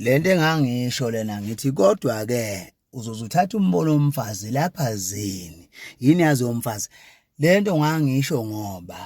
lento engangisho lena ngithi kodwa ke uzoze uthathe umbono womfazi lapha zini yini yazi yomfazi lento ngangisho ngoba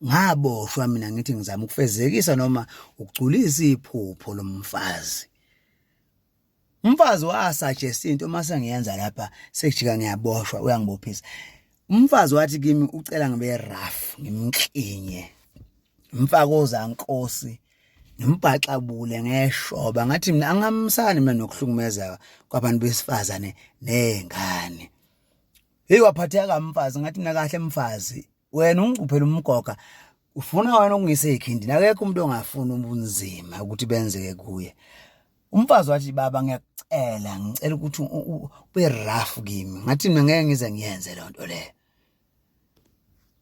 ngaboshwa mina ngithi ngizama ukufezekisa noma ukugculisa iphupho lomfazi Umfazi wasuggest into uma sengiyenza lapha sekujika ngiyaboshwa uyangibophisa. Umfazi wathi kimi ucela ngibe rough ngimklinye. Mfaka ozankosi ngimbhaxabule ngeshoba ngathi mina angamsani mina nokuhlukumezeka kwabantu besifazane nezingane hey waphatheka mfazi ngathi mina kahle mfazi wena ungicuphela umgoga ufuna wena ukungisa ekhindini akekho umuntu ongafuni ubunzima ukuthi benzeke kuye umfazi wathi baba ngiyakucela ngicela ukuthi ube rough kimi ngathi mina ngeke ngize ngiyenze le nto leyo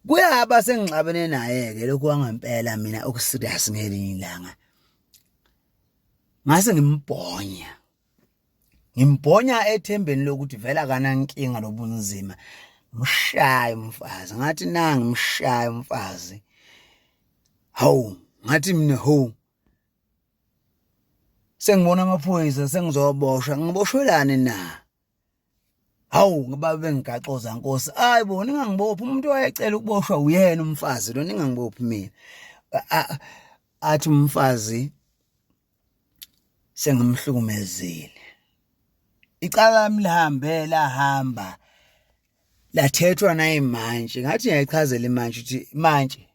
kuyaba sengixabene naye-ke lokhu wangempela mina okuserious ngelinye ilanga ngase ngimbhonya ngimbhonya ethembeni lokuthi vela kanankinga lobunzima mshaye umfazi ngathi nangi mshaye umfazi hawu ngathi mina ho sengibona amaphoyisa sengizoboshwa ngiboshwelani na hawu ngoba bengigaxoza nkosi ayi bo ningangibophi umuntu wayecela ukuboshwa uyena umfazi lo ningangibophi mina athi umfazi sengimhlukumezile icala lami lihambe lahamba lathethwa nayimantshi ngathi ngiyayichazela imantshi ukuthi mantshi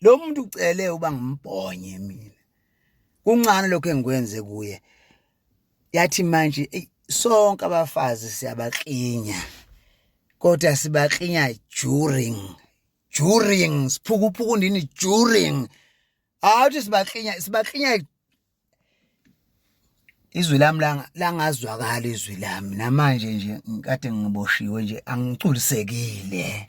lo muntu ucele uba ngimbhonye mina kuncane lokho engikwenze kuye yathi manje sonke abafazi siyabaklinya kodwa sibaklinya during during siphukuphuku ndini during awuthi sibaklinya sibaklinya izwi lami langazwakala izwi lami namanje nje ngikade ngiboshiwe nje angiculisekile